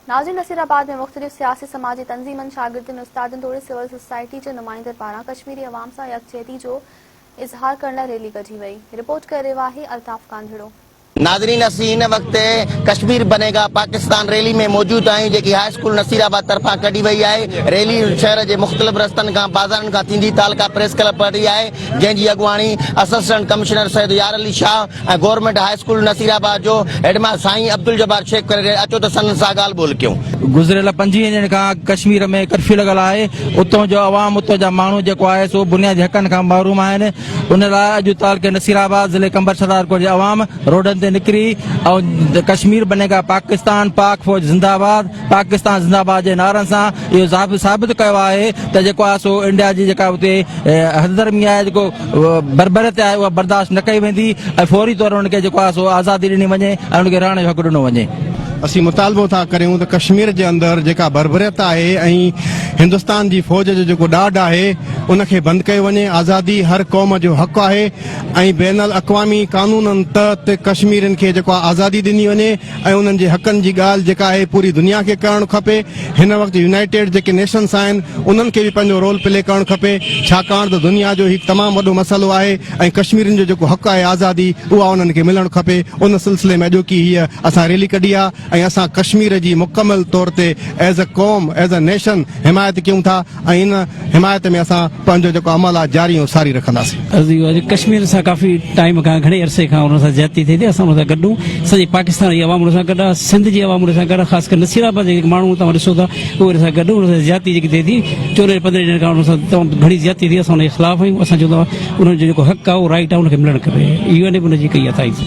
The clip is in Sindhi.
نازي نصير آباد ۾ مختلف سياسي سماجي تنظيمن، شاگردن، استادن توڙي سول سوسائٽي جي نمائندن پاران ڪشميري عوام سان يڪجهتي جو اظهار ڪرڻ لاء ريلي ڪڍي وئي، رپورٽ ڪري رهيو آهي الطاف ڪانڌڙو. ناظرين اسين هن وقت ڪشمير بني گا پاڪستان ريلي ۾ موجود آهيون جيڪي هاء اسڪول نصير آباد طرفان ڪڍي وئي آهي ريلي شهر جي مختلف رستن کان بازارن کان ٿيندي تعلقه پريس ڪلب پهٽي آهي جنهن جي اڳواڻي اسسٽنٽ ڪمشنر سيد يار Ali Shah ۽ government high school Nasirabad جو هيڊ ماستر سائين عبدالجبار شيخ پري ڏي اچو ته سندن سان ڳالهه ٻولهه ڪيون. گذريل پنجويهن ڏينهن کان اڳ ڪشمير ۾ ڪرفيو لڳل آهي اتون جو عوام اتون جا ماڻهو جيڪو آهي سو بنيادي حقن کان محروم آهن ان لاء اڄ تعلقي نصير آباد ضلعي قمبر شهدادڪوٽ جي عوام روڊن تي نڪري ۽ ڪشمير بنيگا پاڪستان پاڪ فوج زنده آباد پاڪستان زنده باد جي نعرن سان اهو ثابت ڪيو آهي ته جيڪو آهي سو انڊيا جي جيڪا اتي حد درمي آهي جيڪو بربريت آهي اها برداشت نه ڪئي ويندي ۽ فوري طور انهن کي جيڪو آهي سو آزادي ڏني وڃي ۽ انهن کي رهڻ جو حق ڏنو وڃي. اسين مطالبو ٿا ڪريون ته ڪشمير جي اندر جيڪا بربريت آهي ۽ هندستان جي فوج جو جيڪو ڏاڍ آهي ان کي بند ڪيو وڃي آزادي هر قوم جو حق آهي ۽ بين الاقوامي قانونن تحت ڪشميرين کي جيڪو آزادي ڏني وڃي ۽ انهن جي حقن جي ڳالهه جيڪا آهي پوري دنيا کي ڪرڻ کپي هن وقت يونائيٽيڊ جيڪي نيشنس آهن انهن کي به پنهنجو رول پلي ڪرڻ کپي ڇاڪاڻ ته دنيا جو هي تمام وڏو مسئلو آهي ۽ ڪشميرين جو جيڪو حق آهي آزادي اها انهن کي ملڻ کپي ان سلسلي ۾ اڄوڪي هيء اسان ريلي ڪڍي آهي ۽ اسان ڪشمير جي مڪمل طور تي ايز اي قوم ايز اي نيشن حمايت ڪيون ٿا ۽ ان حمايت ۾ اسان پنهنجو جيڪو عمل آهي جاري ۽ ساري رکنداسين. عرضيون آهي جو ڪشمير سان ڪافي ٽائيم کان گهڻي عرصي کان انهن سان زيادتي ٿئي ٿي اسان انهن سان گڏ آهون سڄي پاڪستان جي عوام انهن سان گڏ آهي سنڌ جي عوام انهن سان گڏ آهي خاص ڪري نصير آباد جا جيڪي ماڻهو توهان ڏسو ٿا اهي انهن سان گڏ انهن سان زيادتي جيڪي ٿئي ٿي چورنهن پندرهن ڏينهن کان انهن سان تمام گهڻي زيادتي ٿي اسان انهن جي خلاف آهيون اسان چون ٿا انهن جو جيڪو حق آهي اهو رائيٽ آهي انهن کي ملڻ کپي يو اين اي به انهن جي ڪئي آهي تائيد.